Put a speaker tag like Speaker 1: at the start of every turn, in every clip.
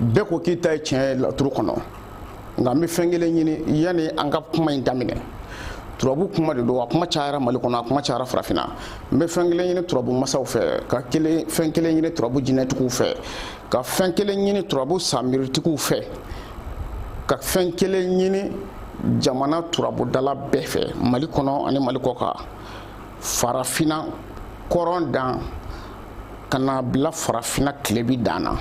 Speaker 1: bɛɛ ko k'i ta ye tiɲɛ ye laturu kɔnɔ nka n bɛ fɛn kelen ɲini yanni an ka kuma in daminɛ turabu kuma de don a kuma cayara mali kɔnɔ a kuma cayara farafinna n bɛ fɛn kelen ɲini turabu masaw fɛ ka kelen fɛn kelen ɲini turabu jinɛtigiw fɛ ka fɛn kelen ɲini turabu samiritigiw fɛ ka fɛn kelen ɲini jamana turabudala bɛɛ fɛ mali kɔnɔ ani mali kɔkan farafinna kɔrɔn dan ka na bila farafinna tilebi dan na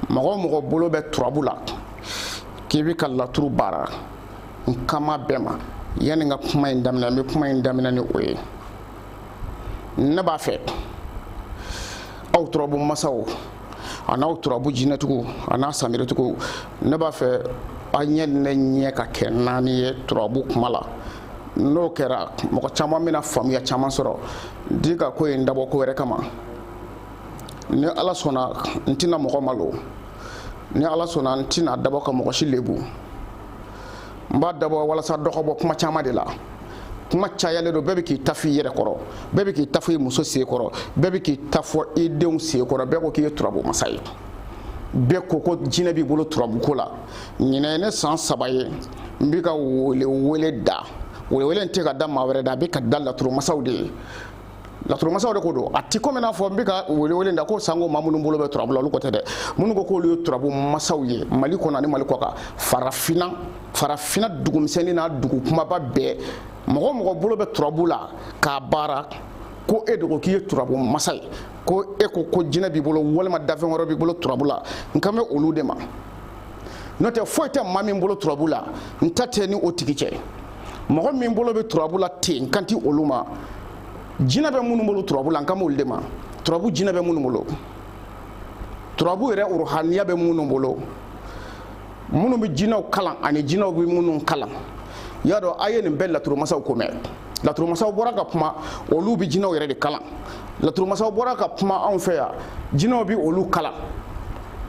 Speaker 1: mɔgɔ o mɔgɔ bolo bɛ turabu la k'i bɛ ka laturu baara n kan bɛ bɛɛ ma yanni n ka kuma in daminɛ n bɛ kuma in daminɛ ni o ye ne b'a fɛ aw turabu masaw an'aw turabu jinɛtigiw an'aw samiritigiw ne b'a fɛ aw ɲɛ ni ne ɲɛ ka kɛ naani ye turabu kuma la n'o kɛra mɔgɔ caman bɛna faamuya caman sɔrɔ n ti ka ko in dabɔ ko wɛrɛ kama ni ala sɔnna n tɛna mɔgɔ malo ni ala sɔnna n tɛna dabɔ ka mɔgɔ si lebu n b'a dabɔ walasa dɔ ka bɔ kuma caman de la kuma cayalen don bɛɛ bɛ k'i ta fɔ i yɛrɛ kɔrɔ bɛɛ bɛ k'i ta fɔ i muso sen kɔrɔ bɛɛ bɛ k'i ta fɔ i denw sen kɔrɔ bɛɛ ko k'i ye turabu masa ye bɛɛ ko ko jinɛ b'i bolo turabuko la ɲinan ye ne san saba ye n bɛ ka welewele da welewele in tɛ ka da maa wɛrɛ da a bɛ ka da laturumasaw de ye laturumasaw de ko don a ti komi n'a fɔ n bɛ ka welewele da ko sango maa minnu bolo bɛ turabu la olu ko tɛ dɛ minnu ko k'olu ye turabu masaw ye mali kɔnɔ ani mali kɔkan farafinna farafinna dugu misɛnnin n'a dugu kumaba bɛɛ mɔgɔ o mɔgɔ bolo bɛ turabu la k'a baara ko e dun ko k'i ye turabu masa ye ko e ko ko jinɛ b'i bolo walima dafɛn wɛrɛ b'i bolo turabu la n kan bɛ olu de ma n'o tɛ foyi tɛ maa min bolo turabu la n ta tɛ ni o tigi cɛ mɔgɔ min bolo bɛ turabu la ten n kan ti olu ma jinɛ bɛ minnu bolo turabu la n kan b'olu de ma turabu jinɛ bɛ minnu bolo turabu yɛrɛ ruhaniya bɛ minnu bolo minnu bɛ jinɛw kalan ani jinɛw bɛ minnu kalan y'a dɔn a ye nin bɛɛ laturumasaw ko mɛn laturumasaw bɔra ka kuma olu bɛ jinɛw yɛrɛ de kalan laturumasaw bɔra ka kuma anw fɛ yan jinɛw bɛ olu kalan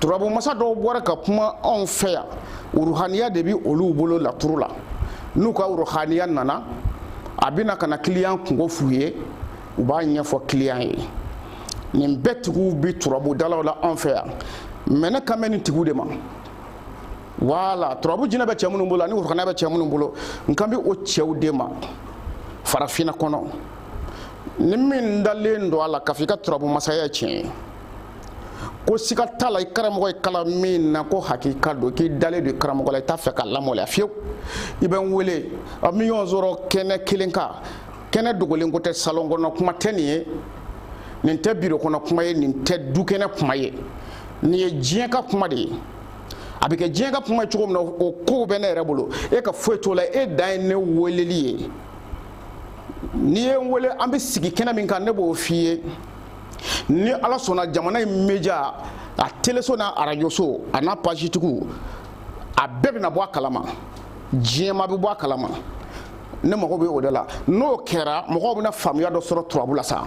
Speaker 1: turabu masa dɔw bɔra ka kuma anw fɛ yan uruhaniya de bi olu bolo laturu la n'u ka uruhaniya nana a bɛna ka na kiliyan kunko f'u ye u b'a ɲɛfɔ kiliyan ye nin bɛɛ tigiw bi turabudalaw la anw fɛ yan mɛ ne kan bɛ nin tigiw de ma wala turabu jinɛ bɛ cɛ minnu bolo ani uruhaniya bɛ cɛ minnu bolo n kan bɛ o cɛw de ma farafinna kɔnɔ ni min dalen don a la k'a fɔ i ka turabu masaya tiɲɛ ye ko siga t'a la i karamɔgɔ y'i kalan min na ko hakika don k'i dalen don i karamɔgɔ la i t'a fɛ k'a lamaloya fiyewu i bɛ n wele an bɛ ɲɔgɔn sɔrɔ kɛnɛ kelen kan kɛnɛ dogolen ko tɛ salon kɔnɔ kuma tɛ nin ye nin tɛ biro kɔnɔ kuma ye nin tɛ du kɛnɛ kuma ye nin ye diɲɛ ka kuma de ye a bɛ kɛ diɲɛ ka kuma ye cogo min na o kow bɛ ne yɛrɛ bolo e ka foyi t'o la e dan ye ne weleli ye n'i ye n wele an bɛ sigi kɛnɛ min kan ne b'o f'i ye ni ala sɔnna jamana media a teleso n'a arajoso a n'a page tigiw a bɛɛ bɛna bɔ a kalama jama bɛ bɔ a kalama ne mago bɛ o de la n'o kɛra mɔgɔw bɛna faamuya dɔ sɔrɔ turabu la sa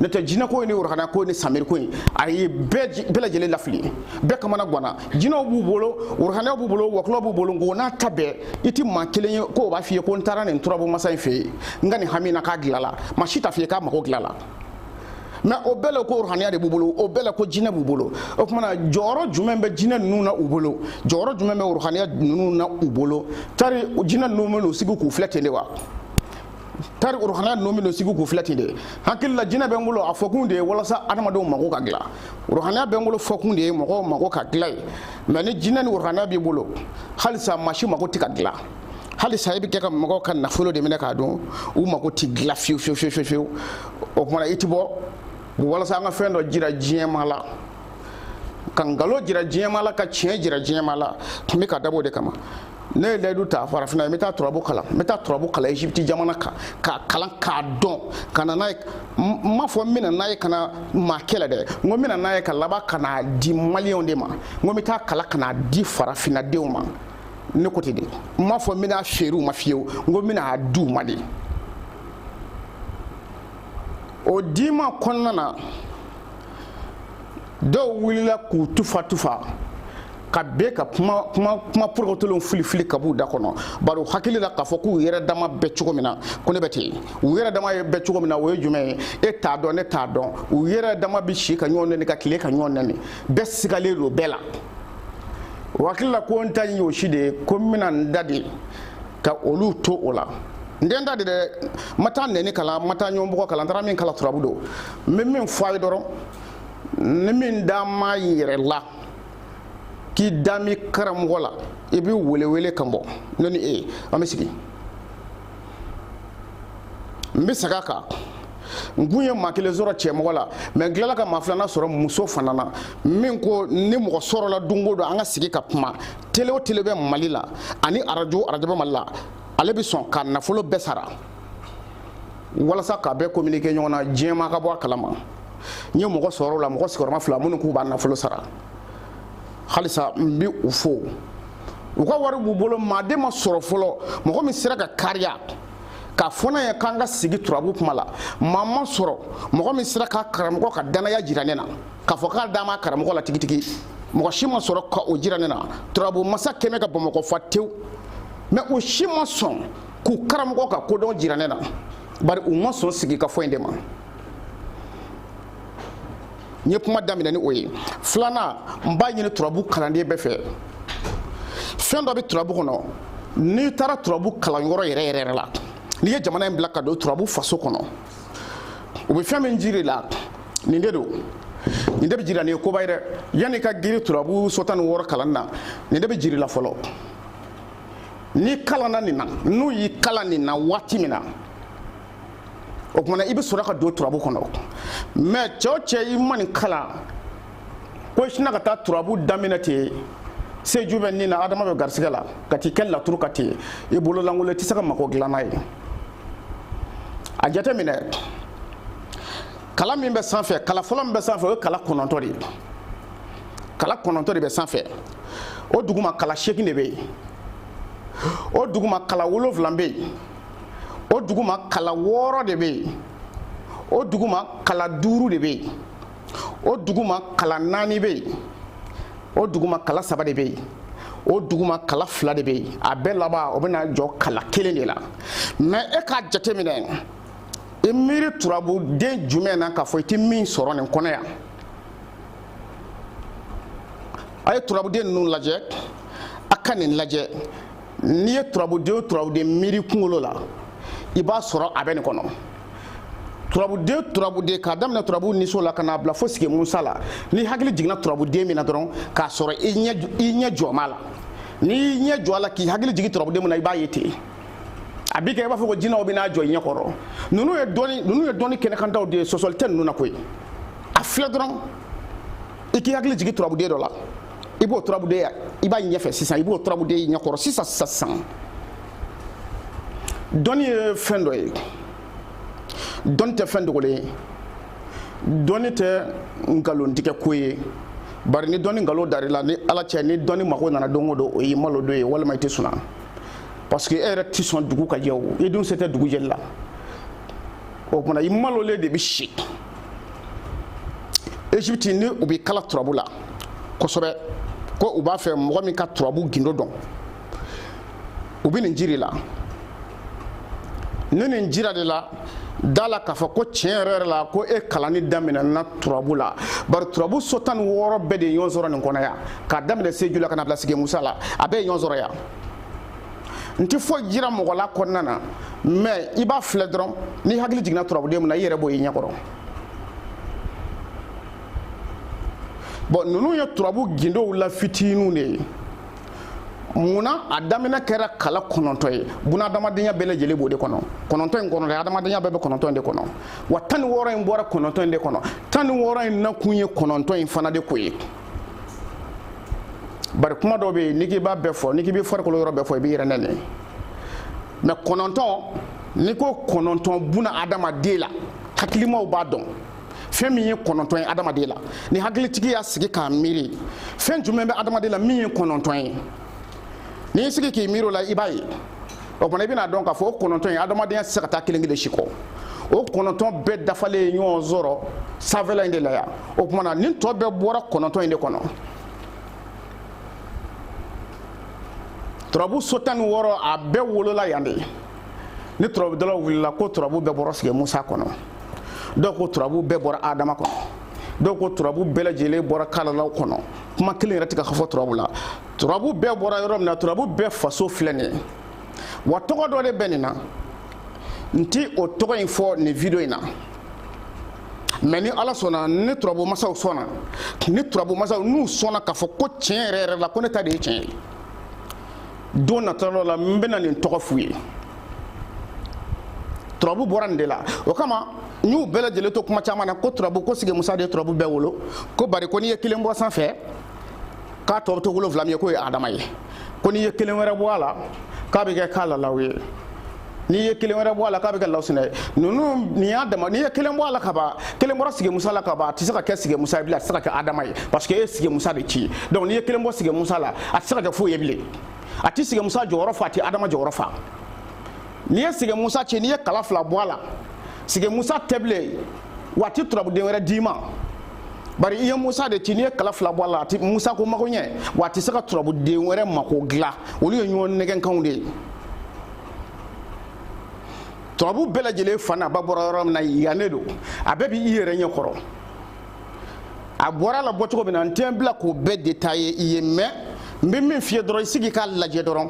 Speaker 1: n'o tɛ jinɛko in ni ruhaniya ko ni samiri ko in a ye bɛɛ lajɛlen lafili bɛɛ kamanaganna jinɛw b'u bolo ruhaniyaw b'u bolo wɔkulɔw b'u bolo nk'o n'a ta bɛɛ i tɛ maa kelen ye ko o b'a f'i ye ko n taara nin turabu masa in fɛ yen n ka nin hami na k'a dilanna maa si t'a f'i ye k'a mago dilanna mɛ o bɛɛ la ko ruhaniya de b'u bolo o bɛɛ la ko jinɛ b'u bolo o tuma na jɔyɔrɔ jumɛn bɛ jinɛ ninnu na u bolo jɔyɔrɔ jumɛn bɛ ruhaniya ninnu na u bolo tari jinɛ ninnu bɛn'u sigi k'u filɛ ten de wa tari ruhaniya ninnu bɛn'u sigi k'u filɛ ten de hakili la jinɛ bɛ n bolo a fɔkun de ye walasa adamadenw mago ka dilan ruhaniya bɛ n bolo fɔkun de ye mɔgɔw mago ka dilan ye mɛ ni jinɛ ni ruhaniya b'i bolo halisa maa si mago tɛ ka dilan halisa i bɛ kɛ ka mɔgɔw ka nafolo de minɛ k'a dun u mako tɛ dilan fiyewu fiyewu fiyewu fiyewu o tuma na i tɛ bɔ walasa an ka fɛn dɔ jira jama la ka nkalon jira jama la ka tiɲɛ jira jama la n bɛ k'a dabɔ o de kama ne ye layidu ta farafinna n bɛ taa turabu kalan n bɛ taa turabu kalan egypte jamana kan k'a kalan k'a dɔn ka na n'a ye n m'a fɔ n bɛna n'a ye ka na maa kɛlɛ dɛ n ko n bɛna n'a ye ka laban ka n'a di maliyɛnw de ma n ko n bɛ taa kalan ka n'a di farafinna denw ma ne ko ten de n m'a fɔ n bɛn'a feere u ma fiyewu n ko n bɛna a di u ma de o dima kɔnɔna na dɔw wulila k'u tufa tufa ka bɛ ka kuma kuma kuma porokotolenw filifili ka b'u da kɔnɔ bari u hakili la k'a fɔ k'u yɛrɛ dama bɛ cogo min na ko ne bɛ ten u yɛrɛ dama ye bɛ cogo min na o ye jumɛn ye e t'a dɔn ne t'a dɔn u yɛrɛ dama bɛ si ka ɲɔgɔn nɛni ka tile ka ɲɔgɔn nɛni bɛɛ sigalen don bɛɛ la o hakili la ko n ta ye o si de ye ko n bɛna n da de ka olu to o la n tɛ n da de dɛ n ma taa nɛni kalan n ma taa ɲɔgɔnbugɔ kalan n taara min kalan turabu don n bɛ min fɔ a ye dɔrɔn ni min dalen b'a yɛrɛ la k'i dalen b'i karamɔgɔ la i bɛ welewele kan bɔ ne ni e an bɛ sigi n bɛ segin a kan n kun ye maa kelen sɔrɔ cɛmɔgɔ la mɛ n tilala ka maa filanan sɔrɔ muso fana na min ko ni mɔgɔ sɔrɔla don o don an ka sigi ka kuma tele o tele bɛ mali la ani arajo arajo bɛ mali la ale bɛ sɔn ka nafolo bɛɛ sara walasa k'a bɛɛ communiquer ɲɔgɔn na diɲɛmaa ka bɔ a kalama n ye mɔgɔ sɔrɔ o la mɔgɔ sigiyɔrɔma fila minnu k'u b'a nafolo sara halisa n bɛ u fo u ka wari b'u bolo maaden ma sɔrɔ fɔlɔ mɔgɔ min sera ka kariya k'a fɔ ne ye k'an ka sigi turabu kuma la maa ma sɔrɔ mɔgɔ min sera k'a karamɔgɔ ka dannaya jira ne na k'a fɔ k'a dalen b'a karamɔgɔ la tigitigi mɔgɔ si ma sɔrɔ ka o jira ne na turabu masa kɛmɛ ka bamakɔ fa tewu mɛ u si ma sɔn k'u karamɔgɔ ka kodɔn jira ne na bari u ma sɔn sigikafɔ in de ma n ye kuma daminɛ ni o ye filanan n b'a ɲini turabu kalanden bɛɛ fɛ fɛn dɔ bɛ turabu kɔnɔ n'i taara turabu kalanyɔrɔ yɛrɛ yɛrɛ la n'i ye jamana in bila ka don turabu faso kɔnɔ u bɛ fɛn min jir'i la nin de don nin de bɛ jira nin ye koba ye dɛ yanni i ka girin turabu so tan ni wɔɔrɔ kalan na nin de bɛ jir'i la fɔlɔ n'i kalanna nin na n'u y'i kalan nin na waati min na o kuma na i bɛ sɔrɔ ka don turabu kɔnɔ mɛ cɛ o cɛ i ma nin kalan ko i sinna ka taa turabu daminɛ ten seju bɛ ni na adama bɛ garisigɛ la ka t'i kɛ laturu kan ten i bolo lankolon i tɛ se ka mako dilan n'a ye a jateminɛ kala min bɛ sanfɛ kala fɔlɔ min bɛ sanfɛ o ye kala kɔnɔntɔ de ye kala kɔnɔntɔ de bɛ sanfɛ o duguma kala seegin de bɛ yen o duguma kala wolonwula bɛ yen o duguma kala wɔɔrɔ de bɛ yen o duguma kala duuru de bɛ yen o duguma kala naani bɛ yen o duguma kala saba de bɛ yen o duguma kala fila de bɛ yen a bɛɛ laban o bɛna jɔ kala kelen de la mɛ e k'a jateminɛ i miiri turabuden jumɛn na k'a fɔ i tɛ min sɔrɔ nin kɔnɔ yan a ye turabuden ninnu lajɛ a ka nin lajɛ n'i ye turabuden o turabuden miiri i kunkolo la i b'a sɔrɔ a bɛ nin kɔnɔ turabuden turabuden k'a daminɛ turabu niso la ka n'a bila fo sigi musa la n'i hakili jiginna turabuden min na dɔrɔn k'a sɔrɔ i ɲɛ jɔlen b'a la n'i y'i ɲɛ jɔ a la k'i hakili jigin turabuden min na i b'a ye ten a bɛ kɛ i b'a fɔ ko jinɛw bɛ n'a jɔ i ɲɛ kɔrɔ ninnu ye dɔnni ninnu ye dɔnni kɛnɛkantaw de ye sɔsɔli tɛ ninnu na koyi a filɛ dɔrɔn i k'i hakili jigin turabuden dɔ la i b'o turabuden ye i b'a ɲɛfɛ sisan i b'o turabuden ye i ɲɛkɔrɔ sisan sisan sisan dɔnni ye fɛn dɔ ye dɔnni tɛ fɛn dogolen ye dɔnni tɛ nkalontigɛ ko ye bari ni dɔnni nkalon dar'i la ni ala cɛ ni dɔnni mago nana don o don o y'i malo don ye walima i tɛ sunɔgɔ parce que e yɛrɛ tɛ sɔn dugu ka jɛ o i dun se tɛ dugu jɛli la o tuma i malolen de bɛ si Egypte ni u bɛ kala turabu la kosɛbɛ ko u b'a fɛ mɔgɔ min ka turabu gindo dɔn u bɛ nin jir'i la ni nin jirad'e la da a la k'a fɔ ko tiɲɛ yɛrɛ yɛrɛ la ko e kalanni daminɛna turabu la bari turabu so tan ni wɔɔrɔ bɛɛ de ye ɲɔgɔn sɔrɔ nin kɔnɔ yan k'a daminɛ seju la ka n'a bila sigi musa la a bɛɛ ye ɲɔgɔn sɔrɔ yan n tɛ foyi jira mɔgɔ la kɔnɔna na mais i b'a filɛ dɔrɔn n'i hakili jiginna turabuden min na i yɛrɛ b'o y'i ɲɛkɔrɔ bon ninnu ye turabu gindow la fitininw de ye munna a daminɛ kɛra kala kɔnɔntɔn ye buna adamadenya bɛɛ lajɛlen b'o de kɔnɔ kɔnɔntɔn in kɔnɔ dɛ adamadenya bɛɛ bɛ kɔnɔntɔn de kɔnɔ wa tan ni wɔɔrɔ in bɔra kɔnɔntɔn in de kɔnɔ tan ni wɔɔrɔ in nakun ye kɔnɔntɔn in fana de ko ye bari kuma dɔ bɛ yen n'i k'i b'a bɛɛ fɔ n'i k'i bɛ farikolo yɔrɔ bɛɛ fɔ i b'i yɛrɛ nɛni mais kɔnɔntɔn n'i ko kɔnɔntɔn buna adamaden la hakilimaw b'a dɔn fɛn min ye kɔnɔntɔn ye adamaden la ni hakilitigi y'a sigi k'a miiri fɛn jumɛn bɛ adamaden la min ye kɔnɔntɔn ye n'i y'i sigi k'i miiri o la i b'a ye o tuma na i bɛn'a dɔn k'a fɔ o kɔnɔntɔn in adamadenya tɛ se ka taa kelen kelen si kɔ o kɔnɔntɔn bɛɛ dafalen ye ɲɔgɔn sɔrɔ sanfɛla in de la yan o tuma na nin tɔ bɛɛ bɔra kɔnɔntɔn in de kɔnɔ turabu so tan ni wɔɔrɔ a bɛɛ wolola yan de ni turabudalaw wulila ko turabu bɛɛ bɔra sigi musa kɔnɔ dɔw ko turabu bɛɛ bɔra adama kɔnɔ dɔw ko turabu bɛɛ lajɛlen bɔra kalalaw kɔnɔ kuma kelen yɛrɛ tɛ ka fɔ turabu la turabu bɛɛ bɔra yɔrɔ min na turabu bɛɛ faso filɛ nin ye wa tɔgɔ dɔ de bɛ nin na n ti o tɔgɔ in fɔ nin video in na mais ni ala sɔnna ni turabu masaw sɔnna ni turabu masaw n'u sɔnna k'a fɔ ko tiɲɛ yɛrɛ yɛrɛ la ko ne ta de ye tiɲɛ ye don nata dɔ la n bɛna nin tɔgɔ f'u ye turabu bɔra nin de la o kama n y'u bɛɛ lajɛlen to kuma caman na ko turabu ko sigi musa de ye turabu bɛɛ wolo ko bari ko n'i ye kelen bɔ sanfɛ k'a tɔ bɛ to wolonwula min ye k'o ye adama ye ko n'i ye kelen wɛrɛ bɔ a la k'a bɛ kɛ kalalaw ye n'i ye kelen wɛrɛ bɔ a la k'a bɛ kɛ lawusinɛ ye ninnu nin y'a dama n'i ye kelen bɔ a la ka ban kelen bɔra sigi musa la ka ban a tɛ se ka kɛ sigi musa ye bilen a tɛ se ka kɛ adama ye parce que e ye sigi musa de ci donc n'i ye kelen bɔ sigi musa la a tɛ se ka kɛ foyi ye bilen a tɛ sigi musa jɔyɔrɔ fa a tɛ adama jɔyɔrɔ fa n'i ye sigi musa ci n'i ye kala fila bɔ a la sigi musa tɛ bilen wa a tɛ turabuden wɛrɛ d'i ma bari i ye musa de ci n'i ye kala fila bɔ a la a ti musa ko mako ɲɛ wa a tɛ se ka turabuden wɛrɛ mako dilan olu ye ɲɔgɔn nɛgɛnkanw de ye turabu bɛɛ lajɛlen fa n'a ba bɔra yɔrɔ min na yan ne don a bɛɛ b'i yɛrɛ ɲɛ kɔrɔ a bɔra la bɔcogo min na n tɛ n bila k'o bɛɛ détailler i ye mais n bɛ min f'i ye dɔrɔn i sigi k'a lajɛ dɔrɔn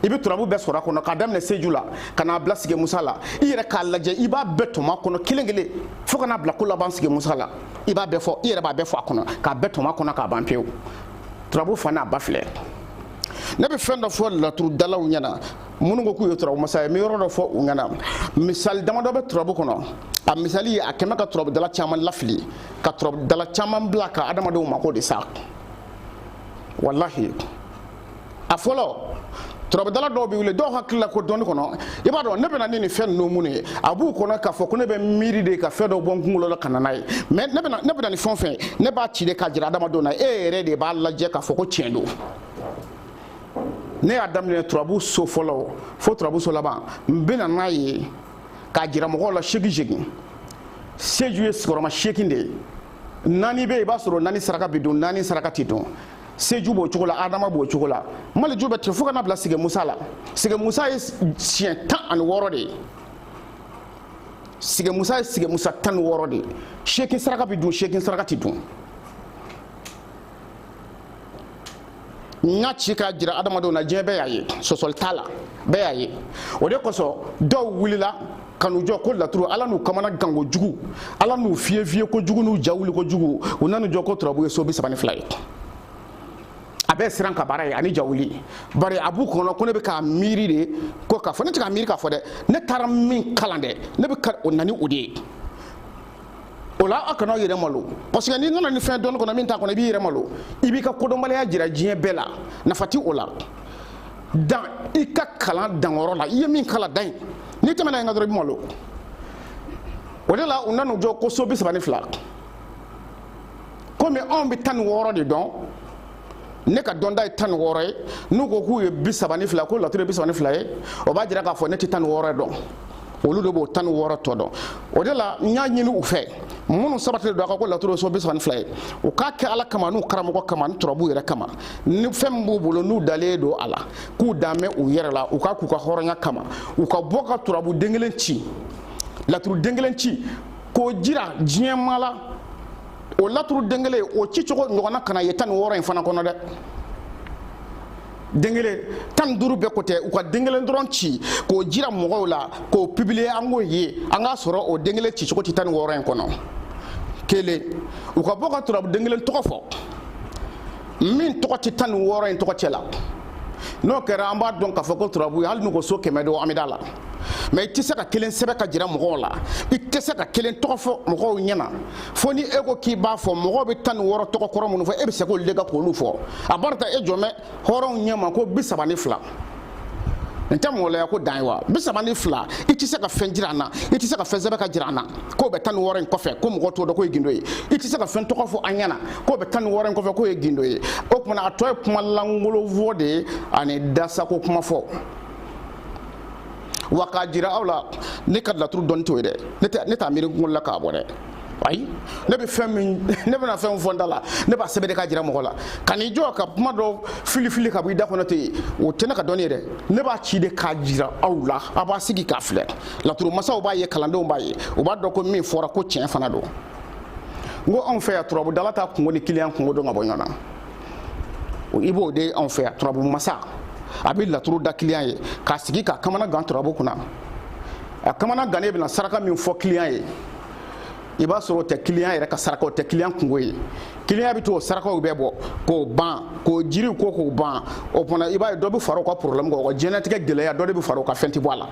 Speaker 1: i bɛ turabu bɛɛ sɔrɔ a kɔnɔ k'a daminɛ seju la ka n'a bila sigi musa la i yɛrɛ k'a lajɛ i b'a bɛɛ tɔmɔ a kɔnɔ kelen kelen fo ka n'a bila ko laban sigi musa la i b'a bɛɛ fɔ i yɛrɛ b'a bɛɛ fɔ a kɔnɔ k'a bɛɛ tɔmɔ a kɔnɔ k'a ban pewu turabu fa n'a ba filɛ ne bɛ fɛn dɔ fɔ laturudalaw ɲɛna minnu ko k'u ye turabu masa ye n bɛ yɔrɔ dɔ fɔ u ɲɛna misali damadɔ bɛ turabu kɔnɔ a misali a kɛmɛ ka turabudala caman lafili ka turabudala caman bila ka adamadenw mako de sa walahi a fɔlɔ turabudala dɔw bɛ wuli dɔw hakili la ko dɔnni kɔnɔ i b'a dɔn ne bɛ na ni nin fɛn ninnu mun ye a b'u kɔnɔ k'a fɔ ko ne bɛ miiri de ka fɛn dɔ bɔ n kunkolo la ka na n'a ye mais ne bɛ na ne bɛ na ni fɛn o fɛn ne b'a ci de k'a jira adamadenw na e yɛrɛ de b'a lajɛ k'a fɔ ko tiɲɛ don ne y'a daminɛ turabu so fɔlɔ fo turabu so laban n bɛ na n'a ye k'a jira mɔgɔw la seegin seegin seju ye sigiyɔrɔma seegin de ye naani bɛ yen i b'a sɔrɔ naani saraka bɛ don naani saraka tɛ don seju b'o cogo la adama b'o cogo la maliju bɛ ten fo ka n'a bila sigi musa la sigi musa ye siɲɛ tan ani wɔɔrɔ de ye sigi musa ye sigi musa tan ni wɔɔrɔ de ye seegin saraka bɛ dun seegin saraka tɛ dun n y'a ci k'a jira adamadenw na diɲɛ bɛɛ y'a ye sɔsɔli t'a la bɛɛ y'a ye o de kosɔn dɔw wulila ka n'u jɔ ko laturu ala n'u kamanagan kojugu ala n'u fiye fiye kojugu n'u ja wuli kojugu u nan'u jɔ ko turabu ye so bi saba ni fila ye a bɛɛ siran ka baara ye ani ja wuli bari a b'u kɔnɔ ko ne bɛ k'a miiri de ko k'a fɔ ne tɛ k'a miiri k'a fɔ dɛ ne taara min kalan dɛ ne bɛ ka o na ni o de ye o la aw kana yɛrɛ malo parce que n'i nana ni fɛn dɔnni kɔnɔ min t'a kɔnɔ i b'i yɛrɛ malo i b'i ka kodɔnbaliya jira diɲɛ bɛɛ la nafa ti o la dan i ka kalan danyɔrɔ la i ye min kalan dan yen n'i tɛmɛna yen kan dɔrɔn i bɛ malo o de la u nan'u jɔ ko so bi saba ni fila komi anw bɛ tan ni wɔɔrɔ de dɔn ne ka dɔnta ye tan ni wɔɔrɔ ye n'u ko k'u ye bi saba ni fila ko laturu ye bi saba ni fila ye o b'a jira k'a fɔ ne tɛ tan ni wɔɔrɔ dɔn olu de b'o tan ni wɔɔrɔ tɔ dɔn o de la n y'a ɲini u fɛ minnu sabatilen don a kan ko laturu so bi saba ni fila ye u k'a kɛ ala kama n'u karamɔgɔ kama ni turabu yɛrɛ kama ni fɛn min b'u bolo n'u dalen don a la k'u dan bɛ u yɛrɛ la u k'a k'u ka hɔrɔnya kama u ka bɔ ka turabu den kelen ci laturu den kelen ci k'o jira diɲɛ maa la o laturu den kelen o ci cogo ɲɔgɔnna kana ye tan ni wɔɔrɔ in fana kɔnɔ dɛ den kelen tan ni duuru bɛɛ ko tɛ u ka den kelen dɔrɔn ci k'o jira mɔgɔw la k'o publier an k'o ye an k'a sɔrɔ o den kelen ci cogo tɛ tan ni wɔɔrɔ in kɔnɔ kelen u ka bɔ ka turabu den kelen tɔgɔ fɔ min tɔgɔ tɛ tan ni wɔɔrɔ in tɔgɔ cɛ la n'o kɛra an b'a dɔn k'a fɔ ko turabu hali n'u ko so kɛmɛ don an bɛ d'a la mais i tɛ se ka kelen sɛbɛn ka jira mɔgɔw la i tɛ se ka kelen tɔgɔ fɔ mɔgɔw ɲɛna fo ni e ko k'i b'a fɔ mɔgɔw bɛ tan ni wɔɔrɔ tɔgɔ kɔrɔ minnu fɔ e bɛ se k'olu de ka k'olu fɔ a b'a ta e jɔmɛ hɔrɔnw ɲɛ ma ko bi saba ni fila nin tɛ mɔgɔlaya ko dan ye wa bi saba ni fila i tɛ se ka fɛn jira an na i tɛ se ka fɛn sɛbɛn ka jira an na k'o bɛ tan ni wɔɔrɔ in kɔfɛ ko mɔgɔ t'o dɔn k'o ye gindo ye i tɛ se ka fɛn tɔgɔ fɔ an ɲɛna k'o bɛ tan ni wɔɔrɔ in kɔfɛ k'o ye gindo ye o tuma na a tɔ ye kuma lankolon fɔ de ye ani dasako kuma fɔ wa k'a jira aw la ne ka laturu dɔnni t'o ye dɛ ne t'a miiri n kunkolo la k'a bɔ dɛ ayi ne bɛ fɛn min ne bɛna fɛn fɔ n da la ne b'a sɛbɛn de k'a jira mɔgɔ la ka n'i jɔ ka kuma dɔ filifili ka bɔ i da kɔnɔ ten o tɛ ne ka dɔnni ye dɛ ne b'a ci de k'a jira aw la a b'a sigi k'a filɛ laturu masaw b'a ye kalandenw b'a ye u b'a dɔn ko min fɔra ko tiɲɛ fana don n ko anw fɛ yan turabudala t'a kungo ni kiliyan kungo dɔn ka bɔ ɲɔgɔn na i b'o de anw fɛ yan turabu masa a bɛ laturu da kiliyan ye k'a sigi k'a kamana gan turabu kunna a kamana gannen bɛna saraka min fɔ kiliyan ye i b'a sɔrɔ o tɛ kiliyan yɛrɛ ka saraka o tɛ kiliyan kungo ye kiliyan bɛ t'o sarakaw bɛɛ bɔ k'o ban k'o jiriw ko k'o ban o fana i b'a ye dɔ bɛ fara o ka porobilɛmu kan o ka diɲɛlatigɛ gɛlɛya dɔ de bɛ fara o ka fɛn tɛ bɔ a la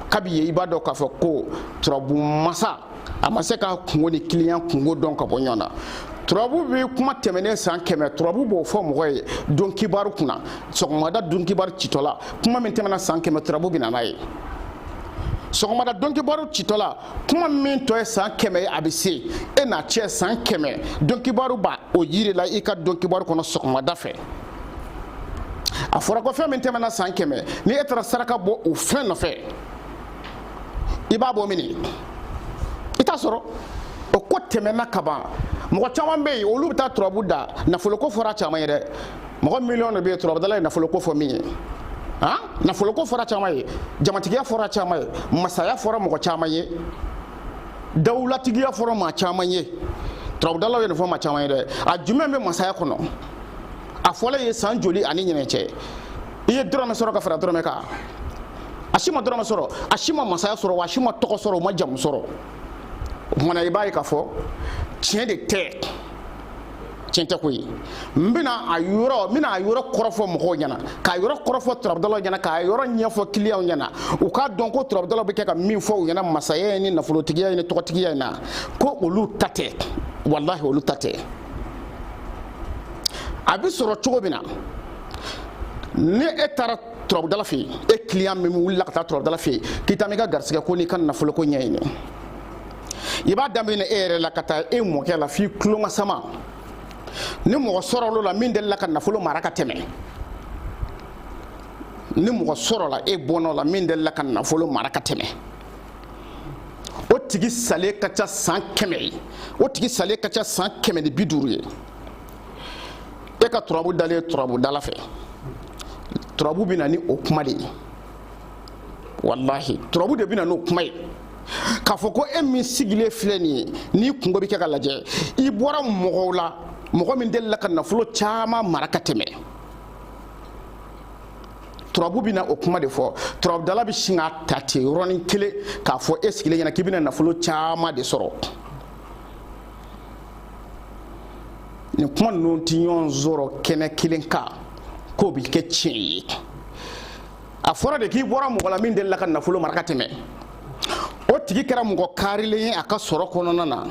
Speaker 1: kabi yen i b'a dɔn k'a fɔ ko turabu masa a ma se k'a kungo ni kiliyan kungo dɔn ka bɔ ɲɔgɔn na turabu bɛ kuma tɛmɛnen san kɛmɛ turabu b'o fɔ mɔgɔ ye don kibaru kunna sɔgɔmada don kibaru citɔla kuma min tɛmɛna san kɛmɛ turabu bɛ na n'a ye sɔgɔmada don kibaru citɔla kuma min tɔ ye san kɛmɛ ye a bɛ se e n'a cɛ san kɛmɛ don kibaru b'a o yir'i la i ka don kibaru kɔnɔ sɔgɔmada fɛ a fɔra ko fɛn min tɛmɛna san kɛmɛ ni e taara saraka bɔ o fɛn nɔfɛ i b'a bɔ min i t'a sɔrɔ o ko tɛmɛna ka ban mɔgɔ caman bɛ yen olu bɛ taa turabu da nafoloko fɔra caman ye dɛ mɔgɔ miliyɔn de bɛ yen turabudala ye nafoloko fɔ min ye han nafoloko fɔra caman ye jamatigiya fɔra caman ye masaya fɔra mɔgɔ caman ye dawulatigiya fɔra maa caman ye turabudala ye nin fɔ maa caman ye dɛ a jumɛn bɛ masaya kɔnɔ a fɔr'a ye san joli ani ɲinɛ cɛ i ye dɔrɔmɛ sɔrɔ ka fara dɔrɔmɛ kan a si ma dɔrɔmɛ sɔrɔ a si ma masaya sɔrɔ wa a si ma tɔgɔ sɔrɔ o ma jamu sɔrɔ o tuma na i b'a ye k'a fɔ tiɲɛ de tɛ tiɲɛ tɛ ko ye n bɛna a yɔrɔ n bɛna a yɔrɔ kɔrɔfɔ mɔgɔw ɲɛna k'a yɔrɔ kɔrɔfɔ turabudalaw ɲɛna k'a yɔrɔ ɲɛfɔ kiliyanw ɲɛna u k'a dɔn ko turabudalaw bɛ kɛ ka min fɔ u ɲɛna masaya in ni nafolotigiya in ni tɔgɔtigiya in na ko olu ta tɛ walahi olu ta tɛ a bɛ sɔrɔ cogo min na ni e taara turabudala fɛ yen e kiliyan min wulila ka taa turabudala fɛ yen k'i taa n'i ka garisɛgɛ ko n'i ka nafolo ko ɲɛɲini i b'a daminɛ e yɛrɛ la ka taa e mɔkɛ la f'i tulomasama ni mɔgɔ sɔrɔla min delila ka nafolo mara ka tɛmɛ ni mɔgɔ sɔrɔla e bɔnna la min delila ka nafolo mara ka tɛmɛ o tigi salen ka ca san kɛmɛ ye o tigi salen ka ca san kɛmɛ ni bi duuru ye e ka turabu dalen ye turabudala fɛ turabu bɛ na ni o kuma de ye walahi turabu de bɛ na n'o kuma ye k'a fɔ ko e min sigilen filɛ nin ye n'i kunko bɛ kɛ ka lajɛ i bɔra mɔgɔ la mɔgɔ min delila ka nafolo caman mara ka tɛmɛ turabu bɛna o kuma de fɔ turabudala bɛ sin k'a ta ten yɔrɔnin kelen k'a fɔ e sigilen ɲɛna k'i bɛna nafolo caman de sɔrɔ nin kuma ninnu tɛ ɲɔgɔn sɔrɔ kɛnɛ kelen kan k'o bɛ kɛ tiɲɛ ye a fɔra de k'i bɔra mɔgɔ la min delila ka nafolo mara ka tɛmɛ o tigi kɛra mɔgɔ karilen ye a ka sɔrɔ kɔnɔna na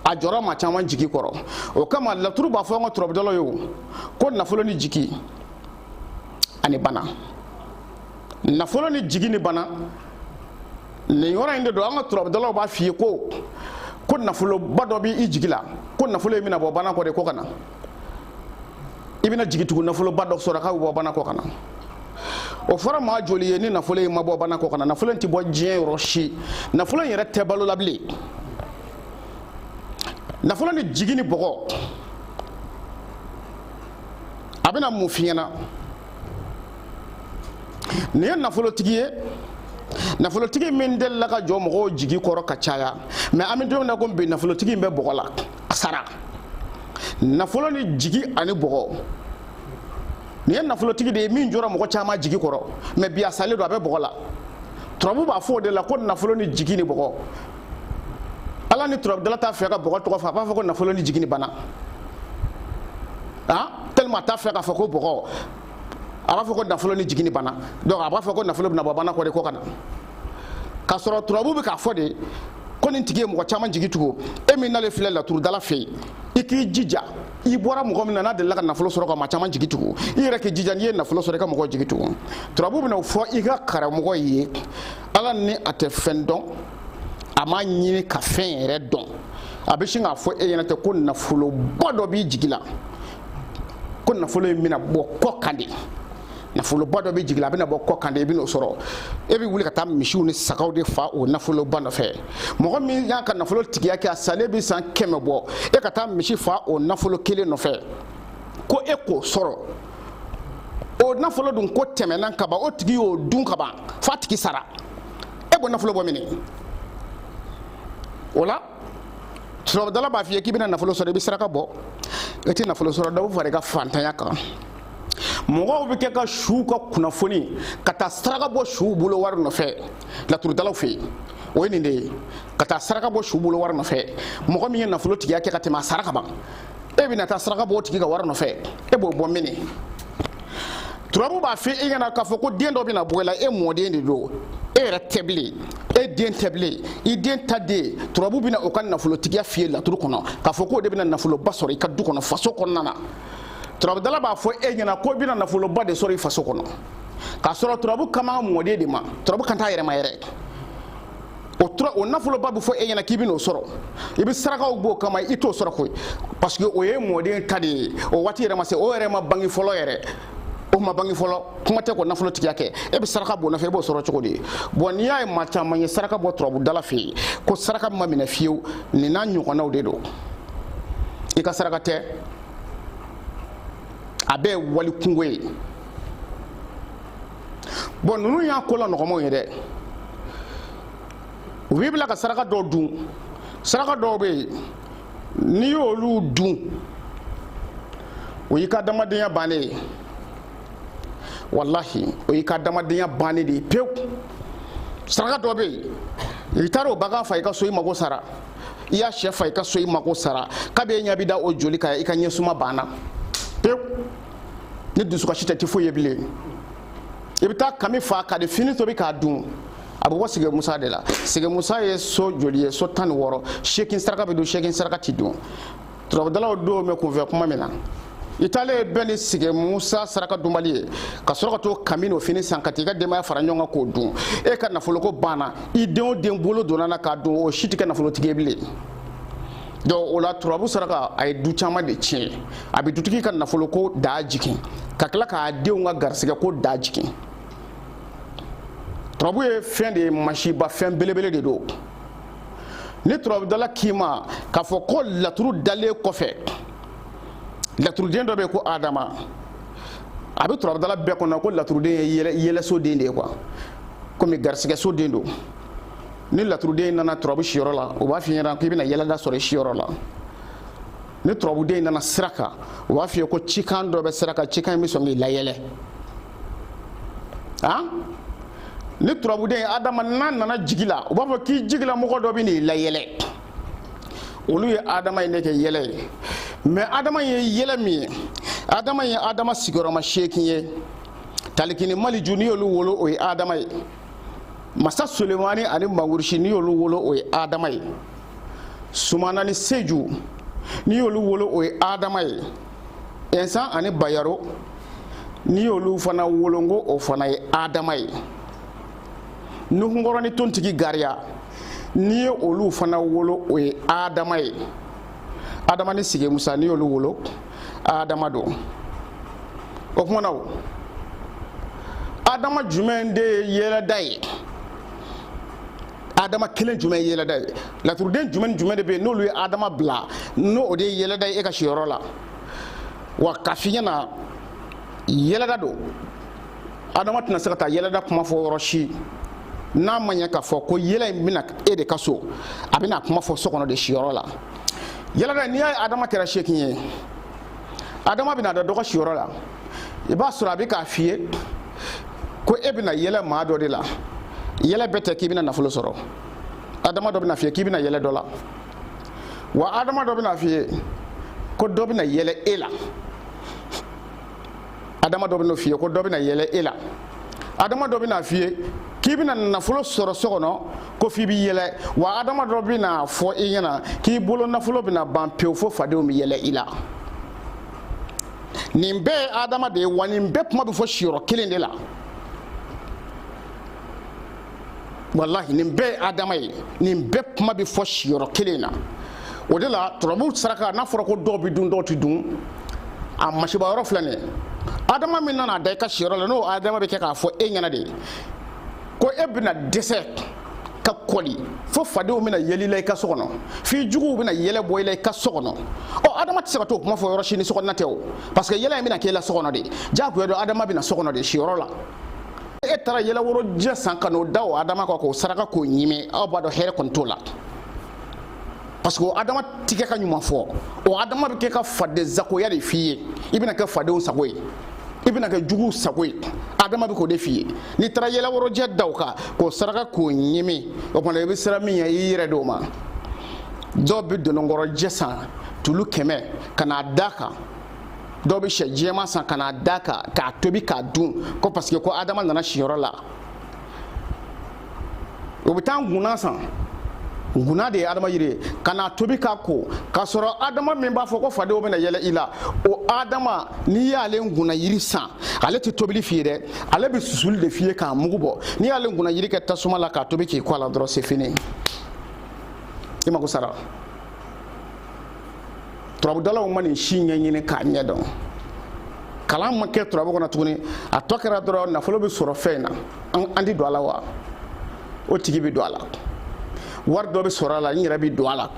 Speaker 1: a jɔra maa caman jigi kɔrɔ o kama laturu b'a fɔ an ka turabudalaw ye o ko nafolo ni jigi ani bana nafolo ni jigi ni bana nin yɔrɔ in de don an ka turabudalaw b'a f'i ye ko ko nafoloba dɔ b'i jigi la ko nafolo in bɛna bɔ banakɔ de ko ka na i bɛna jigi tugu nafoloba dɔ sɔrɔ k'a bɛ bɔ banakɔ ka na o fɔra maa joli ye ni nafolo in ma bɔ banakɔ ka na nafolo in tɛ bɔ diɲɛ yɔrɔ si nafolo in yɛrɛ tɛ balo la bilen nafolo ni jigi ni bɔgɔ a bɛna mun f'i ɲɛna nin ye nafolotigi ye nafolotigi min delila ka jɔ mɔgɔw jigi kɔrɔ ka caya mɛ an bɛ don min na ko bi nafolotigi in bɛ bɔgɔ la a sara nafolo ni jigi ani bɔgɔ nin ye nafolotigi de ye min jɔra mɔgɔ caman jigi kɔrɔ mɛ bi a salen don a bɛ bɔgɔ la turabu b'a fɔ o de la ko nafolo ni jigi ni bɔgɔ ala ni turabudala t'a fɛ ka bɔgɔ tɔgɔ fɔ a b'a fɔ ko nafolo ni jigi ni bana ah tellement a t'a fɛ k'a fɔ ko bɔgɔ a b'a fɔ ko nafolo ni jigi ni bana donc a b'a fɔ ko nafolo bɛna bɔ bana kɔ de ko ka na k'a sɔrɔ turabu bɛ k'a fɔ de ko nin tigi ye mɔgɔ caman jigi tugu e min nalen filɛ laturudala fɛ yen i k'i jija i bɔra mɔgɔ min na n'a delila ka nafolo sɔrɔ ka maa caman jigi tugu i yɛrɛ k'i jija n'i ye nafolo sɔrɔ i ka mɔgɔw jigi tugu turabu bɛna o fɔ i ka karamɔgɔ ye ala ni a tɛ fɛn dɔn a m'a ɲini ka fɛn yɛrɛ dɔn a bɛ sin k'a fɔ e ɲɛna tɛ ko nafoloba dɔ b'i jigi la ko nafolo in bɛna bɔ kɔkan de nafoloba dɔ b'i jigi la a bɛna bɔ kɔkan de i bɛn'o sɔrɔ e bɛ wuli ka taa misiw ni sagaw de fa o nafoloba nɔfɛ mɔgɔ min y'a ka nafolo tigiya kɛ a salen bɛ san kɛmɛ bɔ e ka taa misi fa o nafolo kelen nɔfɛ ko e k'o sɔrɔ o nafolo dun ko tɛmɛna kaban o tigi y'o dun kaban f'a tigi sara e b'o nafolo bɔ mini o la turabudala b'a f'i ye k'i bɛna nafolo sɔrɔ i bɛ saraka bɔ i tɛ nafolo sɔrɔ dɔ bɛ fara i ka fantanya kan mɔgɔw bɛ kɛ ka suw ka kunnafoni ka taa saraka bɔ suw bolo wari nɔfɛ laturudalaw fɛ yen o ye nin de ye ka taa saraka bɔ su bolo wari nɔfɛ mɔgɔ min ye nafolo tigiya kɛ ka tɛmɛ a sara ka ban e bɛna taa saraka b'o tigi ka wari nɔfɛ e b'o bɔ mini turabu b'a fɔ e ɲɛna k'a fɔ ko den dɔ bɛna bɔ i la e mɔden de don e yɛrɛ tɛ bilen e den tɛ bilen i den ta den turabu bɛna o ka nafolotigiya f'i ye laturu kɔnɔ k'a fɔ k'o de bɛna nafoloba sɔrɔ i ka du kɔnɔ faso kɔnɔna na turabudala b'a fɔ e ɲɛna ko i bɛna nafoloba de sɔrɔ i faso kɔnɔ k'a sɔrɔ turabu kan b'a mɔden de ma turabu kan t'a yɛrɛ ma yɛrɛ o tura o nafoloba bɛ fɔ e ɲɛna k'i bɛn'o sɔrɔ i bɛ sarakaw b'o kama i t'o sɔrɔ koyi parce que o ye mɔden ta de ye o waati yɛrɛ ma se o yɛrɛ ma bange fɔlɔ yɛrɛ o ma bange fɔlɔ kuma tɛ k'o nafolo tigiya kɛ e bɛ saraka b'o nɔfɛ e b'o sɔrɔ cogo di bon n'i y'a ye maa caman ye saraka bɔ turabudala fɛ yen ko saraka ma minɛ fiyewu nin n'a ɲɔgɔnnaw de don i ka saraka tɛ a bɛɛ ye wali kunko ye bon ninnu y'a ko la nɔgɔmanw ye dɛ u b'i bila ka saraka dɔw dun saraka dɔw bɛ yen n'i y'olu dun o y'i ka adamadenya bannen ye walahi o y'i ka adamadenya bannen de ye pewu saraka dɔ bɛ yen i taara o bagan fa i ka so i mago sara i y'a sɛ fa i ka so i mago sara kab'e ɲɛ bɛ da o joli kan i ka ɲɛsuma banna pewu ni dusukasi tɛ i tɛ foyi ye bilen i bɛ taa kami fa ka di fini tobi k'a dun a bɛ bɔ sigi musa de la sigi musa ye so joli ye so tan ni wɔɔrɔ seegin saraka bɛ dun seegin saraka ti dun turabudalaw don bɛ kunfɛ kuma min na i taalen bɛ bɛn ni sigi musa saraka dunbali ye ka sɔrɔ ka t'o kami n'o fini san ka t'i ka denbaya fara ɲɔgɔn kan k'o dun e ka nafoloko banna i den o den bolo donna na k'a dun o si tɛ kɛ nafolotigi ye bilen donc o la turabu saraka a ye du caman de tiɲɛ a bɛ dutigi ka nafoloko daa jigin ka tila k'a denw ka garisɛgɛko daa jigin turabu ye fɛn de ye masiba fɛn belebele de don ni turabudala k'i ma k'a fɔ ko laturu dalen kɔfɛ laturuden dɔ bɛ yen ko adama a bɛ turabudala bɛɛ kɔnɔ ko laturuden ye yɛlɛso den de ye quoi komi garisɛgɛso den don ni laturuden nana turabu siyɔrɔ la u b'a f'i ɲɛna k'i bɛna yɛlɛda sɔrɔ i siyɔrɔ la ni turabuden nana sira kan u b'a f'i ye ko cikan dɔ bɛ sira kan cikan in bɛ sɔn k'i layɛlɛ han ni turabuden adama n'a nana jigi la u b'a fɔ k'i jigila mɔgɔ dɔ bɛn'i layɛlɛ olu ye adama in de kɛ yɛlɛ ye mais adama ye yɛlɛ min ye adama ye adama sigiyɔrɔma seegin ye taliki ni maliju n'i y'olu wolo o ye adama ye masa sulemani ani mangurusi n'i y'olu wolo o ye adama ye sumana ni seju n'i y'olu wolo o ye adama ye ɛnsan ani bayaro n'i y'olu fana wolo n ko o fana ye adama ye nuhunkɔrɔ ni tontigi gariya n'i ye olu fana wolo o ye adama ye adama ni sige musa n'i y'olu wolo adama don o kuma na o adama jumɛn de ye yɛlɛda ye adama kelen jumɛn ye yɛlɛda ye laturuden jumɛn jumɛn de bɛ yen n'olu ye adama bila n'o o de ye yɛlɛda ye e ka siyɔrɔ la wa k'a f'i ɲɛna yɛlɛda don adama tɛna se ka taa yɛlɛda kuma fɔ yɔrɔ si n'a ma ɲɛ k'a fɔ ko yɛlɛ in bɛna e de ka so a bɛna kuma fɔ so kɔnɔ de siyɔrɔ la yɛlɛda n'i y'a ye adama kɛra seegin ye adama bɛna da dɔ ka siyɔrɔ la i b'a sɔrɔ a bɛ k'a f'i ye ko e bɛna yɛlɛ maa dɔ de la yɛlɛ bɛɛ tɛ k'i bɛna nafolo sɔrɔ adama dɔ bɛna f'i ye k'i bɛna yɛlɛ dɔ la wa adama dɔ bɛna f'i ye ko dɔ bɛna yɛlɛ e la adama dɔ bɛna f'i ye ko dɔ bɛna yɛlɛ e la adama dɔ bɛna f'i ye k'i bɛna nafolo sɔrɔ so kɔnɔ ko f'i bɛ yɛlɛ wa adama dɔ bɛna fɔ i ɲɛna k'i bolo nafolo bɛna ban pewu fo fadenw bɛ yɛlɛ i la nin bɛɛ ye adama de ye wa nin bɛɛ kuma bɛ fɔ siyɔrɔ kelen de la walahi nin bɛɛ ye adama ye nin bɛɛ kuma bɛ fɔ siyɔrɔ kelen na o de la turabu saraka n'a fɔra ko dɔw bɛ dun dɔw tɛ dun a masiba yɔrɔ filɛ nin ye adama min nana da i ka siyɔrɔ la n'o adama bɛ kɛ k'a fɔ e ɲɛna de ko e bɛna dɛsɛ ka kɔli fo fadenw bɛna yɛlɛ i la i ka so kɔnɔ f'i juguw bɛna yɛlɛ bɔ i la i ka so kɔnɔ ɔ adama tɛ se ka t'o kuma fɔ yɔrɔ si ni so kɔnɔna tɛ o parce que yɛlɛ in bɛna k'e la so kɔnɔ de diyagoya don adama bɛna so kɔnɔ de siyɔrɔ la e taara yɛlɛworojɛ san ka n'o da o adama kan k'o saraka k'o ɲimi aw b'a dɔn hɛrɛ kɔni t'o la parce que o adama ti kɛ ka ɲuman fɔ o adama bɛ kɛ ka fadensagoya de f'i ye i bɛna kɛ fadenw sago ye i bɛna kɛ juguw sago ye adama bɛ k'o de f'i ye n'i taara yɛlɛworojɛ da o kan k'o saraka k'o ɲimi o tuma i bɛ siran min ɲɛ i y'i yɛrɛ di o ma dɔw bɛ dononkɔrɔjɛ san tulu kɛmɛ ka n'a da kan dɔw bɛ sɛ jɛman san ka n'a da kan k'a tobi k'a dun ko parce que ko adama nana siyɔrɔ la o bɛ taa ngunna san ngunna de ye adama yiri ye ka n'a tobi k'a ko k'a sɔrɔ adama min b'a fɔ ko fadenw bɛna yɛlɛ i la o adama n'i y'ale ngunna yiri san ale tɛ tobili f'i ye dɛ ale bɛ susuli de f'i ye k'a mugu bɔ n'i y'ale ngunna yiri kɛ tasuma la k'a tobi k'i ko a la dɔrɔn c'est fini i mako sara turabudalaw ma nin si ɲɛɲini k'a ɲɛdɔn kalan ma kɛ turabu kɔnɔ tuguni a tɔ kɛra dɔrɔn nafolo bɛ sɔrɔ fɛn na an tɛ don a la wa o tigi bɛ don a la wari dɔ bɛ sɔrɔ a la n yɛrɛ bɛ don a la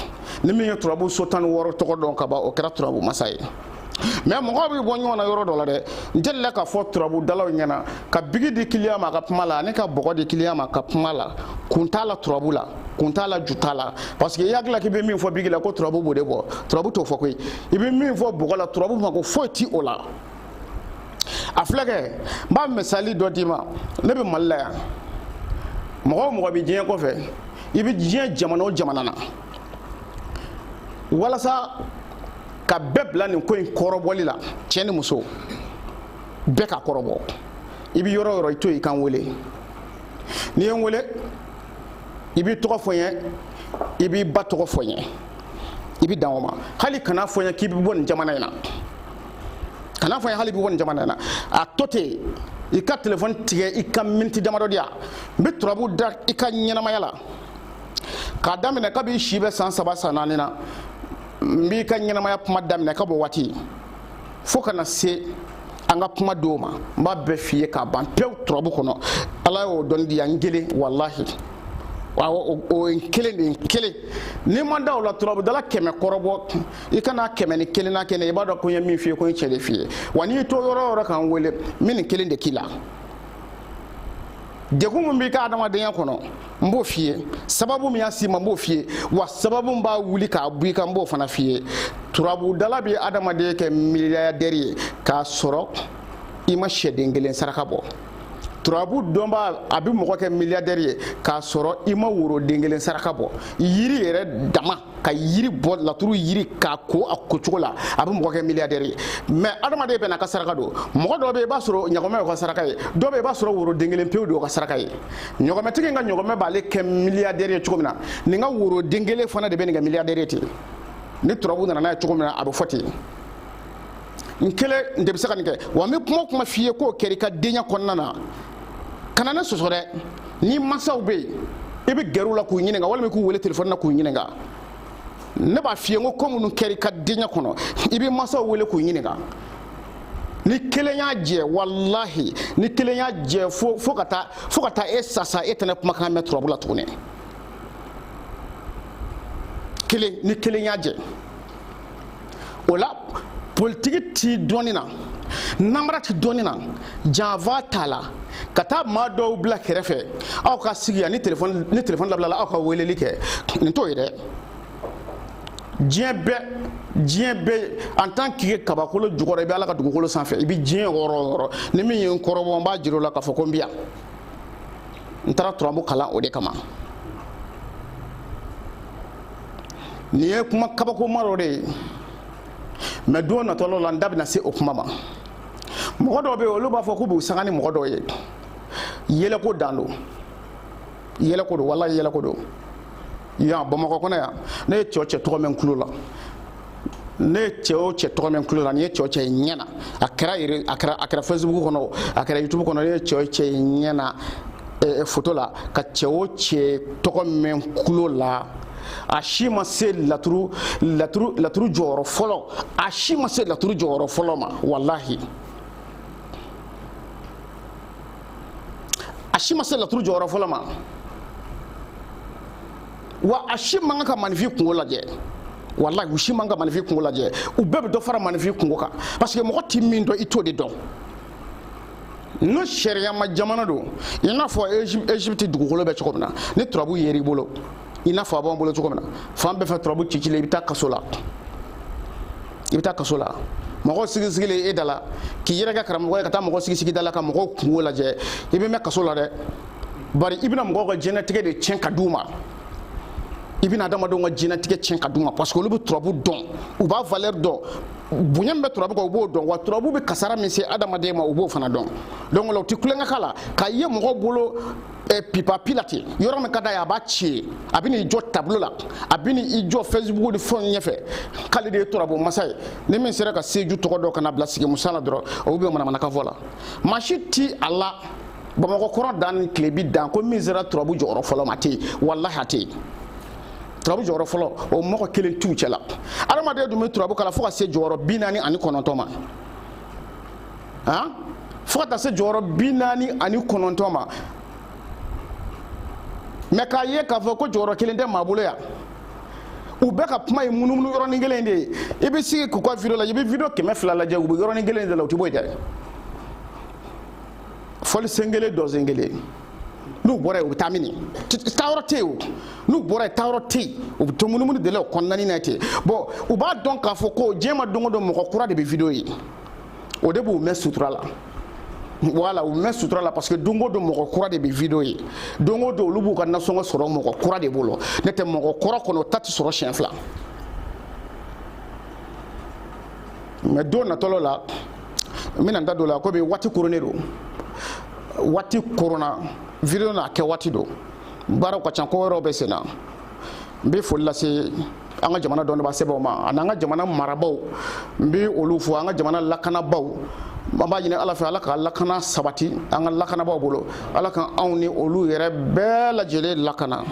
Speaker 1: ni min ye turabu so tan ni wɔɔrɔ tɔgɔ dɔn ka ban o kɛra turabu masa ye mais mɔgɔ bɛ bɔ ɲɔgɔn na yɔrɔ dɔ la dɛ n delila k'a fɔ turabudalaw ɲɛna ka bigi di kiliyan ma ka kuma a la ani ka bɔgɔ di kiliyan ma ka kuma a la kun t'a la turabu la kun t'a la ju t'a la parce que i hakili la k'i bɛ min fɔ bigi la ko turabu b'o de bɔ turabu t'o fɔ koyi i bɛ min fɔ bɔgɔ la turabu mako foyi ti o la a filɛ kɛ n b'a misali dɔ d'i ma ne bɛ mali la yan mɔgɔ o mɔgɔ bɛ diɲɛ kɔfɛ i bɛ diɲɛ jamana o jamana na walasa ka bɛɛ bila nin ko in kɔrɔbɔli la cɛ ni muso bɛɛ ka kɔrɔbɔ i bɛ yɔrɔ o yɔrɔ i to i ka n wele n'i ye n wele i b'i tɔgɔ fɔ n ye i b'i ba tɔgɔ fɔ n ye i bɛ dan o ma hali kana fɔ n ye k'i bɛ bɔ nin jamana in na kana fɔ n ye hali i bɛ bɔ nin jamana in na a to ten i ka telefɔni tigɛ i ka miniti damadɔ di yan n bɛ turabu da i ka ɲɛnamaya la k'a daminɛ kabi i si bɛ san saba san naani na n b'i ka ɲɛnamaya kuma daminɛ ka bɔ waati fo ka na se an ka kuma don ma n b'a bɛɛ f'i ye k'a ban pewu turabu kɔnɔ ala y'o dɔnni di yan n kelen walahi o ye kelen de ye kelen n'i ma da o la turabudala kɛmɛ kɔrɔbɔ i ka na kɛmɛ ni kelennan kɛ ne i b'a dɔn ko n ye min f'i ye ko n ye cɛn de f'i ye wa n'i to yɔrɔ o yɔrɔ ka n wele n bɛ nin kelen de k'i la degun min b'i ka adamadenya kɔnɔ n b'o f'i ye sababu min y'a s'i ma n b'o f'i ye wa sababu min b'a wuli k'a bɔ i kan n b'o fana f'i ye turabudala bɛ adamaden kɛ miliyadɛri ye k'a sɔrɔ i ma sɛden kelen saraka bɔ turabu dɔnbaa a bɛ mɔgɔ kɛ miliyadɛri ye k'a sɔrɔ i ma woroden kelen saraka bɔ yiri yɛrɛ dama ka yiri bɔ laturu yiri k'a ko a kocogo la a bɛ mɔgɔ kɛ miliyadɛri ye mɛ adamaden bɛɛ n'a ka saraka don mɔgɔ dɔ bɛ i b'a sɔrɔ ɲɔgɔmɛ y'o ka saraka ye dɔ bɛ i b'a sɔrɔ woroden kelen pewu de y'o ka saraka ye ɲɔgɔmɛtigi ka ɲɔgɔmɛ b'ale kɛ miliyadɛri ye cogo min na nin ka woroden kelen fana de bɛ nin kɛ miliyadɛri ye ten ni turabu nana n'a ye cogo min na a bɛ fɔ ten n kelen n de bɛ se ka nin kɛ wa n bɛ kuma o kuma f'i ye k'o kɛra i ka denya kɔnɔna na kana ne sɔsɔ dɛ ni mansaw bɛ yen i bɛ gɛrɛ u la k'u ɲininka walima k'u wele telefɔni na k'u ɲininka ne b'a f'i ye n ko ko minnu kɛra i ka denya kɔnɔ i bɛ mansaw wele k'u ɲininka ni kelen y'a jɛ walahi ni kelen y'a jɛ fo fo ka taa fo ka taa e sa sa e tɛna kumakan mɛn turabu la tugun ni kelen ni kelen y'a jɛ o la politiki ti dɔnni na namara ti dɔnni na janfa t'a la ka taa maa dɔw bila kɛrɛfɛ aw ka sigi yan ni telefɔni ni telefɔni labilala aw ka weleli kɛ nin t'o ye dɛ diɲɛ bɛɛ diɲɛ bɛɛ en tant que kabakolo jukɔrɔ i bɛ ala ka dugukolo sanfɛ i bɛ diɲɛ yɔrɔ o yɔrɔ ni min ye n kɔrɔbɔ n b'a jira o la k'a fɔ ko n bɛ yan n taara turabu kalan o de kama nin ye kuma kabakoma dɔ de ye mɛ don natɔ dɔ la n da bɛna se o kuma ma mɔgɔ dɔw bɛ yen olu b'a fɔ k'u b'u sanga ni mɔgɔ dɔw ye yɛlɛko dan don yɛlɛko don walayi yɛlɛko don yan bamakɔ kɔnɔ yan ne ye cɛ o cɛ tɔgɔ mɛn n tulo la ne ye cɛ o cɛ tɔgɔ mɛn n tulo la ne ye cɛ o cɛ ye n ɲɛ na a kɛra a kɛra a kɛra facebook kɔnɔ a kɛra youtube kɔnɔ ne ye cɛ o cɛ ye n ɲɛ na eh, foto la ka cɛ o cɛ tɔgɔ mɛn n tulo la a si ma se laturu laturu laturu jɔyɔrɔ fɔlɔ a si ma se laturu jɔyɔrɔ fɔlɔ ma walahi a si ma se laturu jɔyɔrɔ fɔlɔ ma wa a si man kan ka manifin kungo lajɛ walayi u si man ka manifin kungo lajɛ u bɛɛ bɛ dɔ fara manifin kungo kan parce que mɔgɔ ti min dɔn i t'o de dɔn n'o sariyama jamana don i n'a fɔ egypte dugukolo bɛ cogo min na ni turabu yera i bolo i n'a fɔ a b'an bolo cogo min na fan bɛɛ fɛ turabu cicilen i bɛ taa kaso la i bɛ taa kaso la mɔgɔw sigisigilen e da la k'i yɛrɛ kɛ karamɔgɔ ye ka taa mɔgɔ sigisigi da la ka mɔgɔw kungo lajɛ i bɛ mɛn kaso la dɛ bari i bɛna mɔgɔw ka diɲɛlatigɛ de tiɲɛ ka di u ma i bɛna adamadenw ka diɲɛlatigɛ tiɲɛ ka di u ma parce que olu bɛ turabu dɔn u b'a valeur dɔn bonya min bɛ turabu kan u b'o dɔn wa turabu bɛ kasara min se adamaden ma u b'o fana dɔn donc o la u tɛ tulonkɛ k'a la k'a ye mɔgɔw bolo eh, pipapi la ten yɔrɔ min ka d'a ye a b'a ci a bɛ n'i jɔ tableau la a bɛ n'i jɔ facebook ni fɛnw ɲɛfɛ k'ale de ye turabu masa ye ni min sera ka seju tɔgɔ dɔn ka n'a bila sigi musa la dɔrɔn o bɛ manamanakan fɔ la maa si ti a la bamakɔ kɔrɔn dan ni tilebin dan ko min sera turabu jɔyɔrɔ fɔlɔ ma a tɛ yen walahi a tɛ yen turabu jɔyɔrɔ fɔlɔ o mɔgɔ kelen t'u cɛla adamaden dun bɛ turabu kalan fo ka se jɔyɔrɔ bi naani ani kɔnɔntɔn ma han fo ka taa se jɔyɔrɔ bi naani ani kɔnɔntɔn ma mais k'a ye k'a fɔ ko jɔyɔrɔ kelen tɛ maa bolo yan u bɛɛ ka kuma ye munumunu yɔrɔnin kelen de ye i bɛ sigi k'u ka video lajɛ i bɛ video kɛmɛ fila lajɛ u bɛ yɔrɔnin kelen de la u tɛ bɔ yen dɛ fɔli sen kelen dɔnsen kelen n'u bɔra yen u bɛ taa min taayɔrɔ tɛ yen o n'u bɔra yen taayɔrɔ tɛ yen u bɛ to munumunu de la o kɔnɔna na ten bon u b'a dɔn k'a fɔ ko diɲɛ ma don o don mɔgɔ kura de bɛ video ye o de b'u mɛn sutura la voilà u mɛn sutura la parce que don o don mɔgɔ kura de bɛ video ye don o don olu b'u ka nasɔngɔ sɔrɔ mɔgɔ kura de bolo n'o tɛ mɔgɔ kura kɔnɔ o ta tɛ sɔrɔ siɲɛ fila mais don natɔ dɔ la n bɛna n da don o la komi waati koronnen don waati koronna video n'a kɛ waati don baaraw ka ca ko wɛrɛw bɛ sen na n bɛ foli lase an ka jamana dɔnnibaa sɛbɛw ma ani an ka jamana marabaw n bɛ olu fo an ka jamana lakanabaaw an b'a ɲini ala fɛ ala ka lakana sabati an ka lakanabaaw bolo ala ka anw ni olu yɛrɛ bɛɛ lajɛlen lakana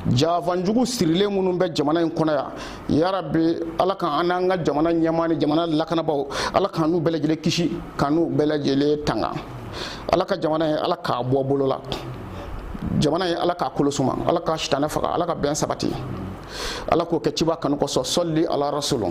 Speaker 1: janfa jugu sirilen minnu bɛ jamana in kɔnɔ yan yarabi ala ka an n'an ka jamana ɲɛmaa ni jamana lakanabaaw ala k'an n'u bɛɛ lajɛlen kisi k'an n'u bɛɛ lajɛlen tanga ala ka jamana ye ala k'a bɔ bolo la jamana ye ala k'a kolo suma ala ka sitanɛ faga ala ka bɛn sabati ala k'o kɛ ciba kanu kosɔn sali ala rasulu